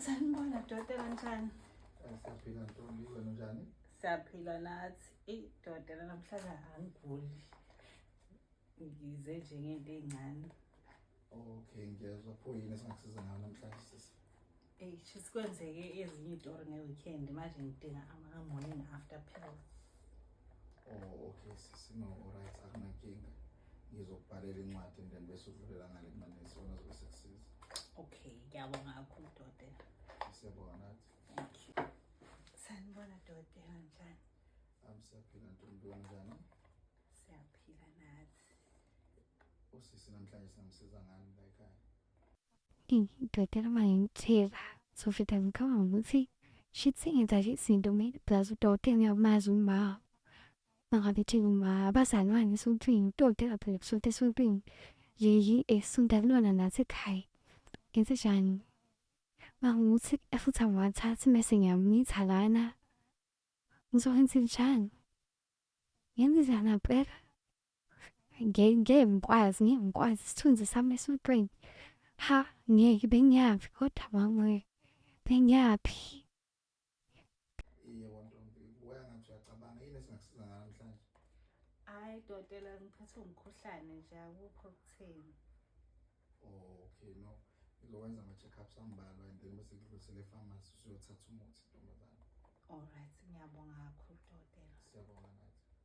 Sanibona dokotela njani? Siyaphila ntombi wena njani? Siyaphila nathi. Eyi dokotela namhlanje angiguli. Ngize nje ngento ey'ncane. Okay ngiyezwa pho yini esingakusiza ngayo namhlanje sisi? Eyi sisi kwenzeke ezinye itori nge-weekend manje ngidinga ama-morning after pills. Oh okay sisi no alright akunankinga. ngizokubhalela incwadi and then bese udlulela ngale kumane isona zobe sekusiza okay ngiyabonga kakhulu dokotela siyabonga nathi thank you sanibona dokotela njani am siyaphila ntombi njani siyaphila nathi usisi namhlanje singamsiza ngani la ekhaya dokotela uma ngimthela sofita ngikhamba ngokuthi shithingi zathi izinto mina plus udokotela ngiyamazi umama Bangabethi abazalwane esontweni utoti aphele kusonta esontweni leli esonta kulona nathi ekhaya ngenze njani bangukuthi futhi angiwathathi mese ngiyamitha lana ngizokwenza njani ngenze njani ampela ngeke ngeke ngikwazi ngeke ngikwazi isithunzi sami esontweni ha ngeke bengiyaphi kodwa mangwe bengiyaphi Iye kwantombi kuya ngathi uyacabanga yini esingakusiza ngayo namhlanje? Hayi dokotela ngiphathwe umkhuhlane nje akukho kutheni. Oh, okay no. Ngizokwenza ama-check-ups ambalwa and then bese ngidlulisele e-pharmacy usuyothatha umuthi ntombazane. Alright ngiyabonga kakhulu dokotela. Siyabonga nathi.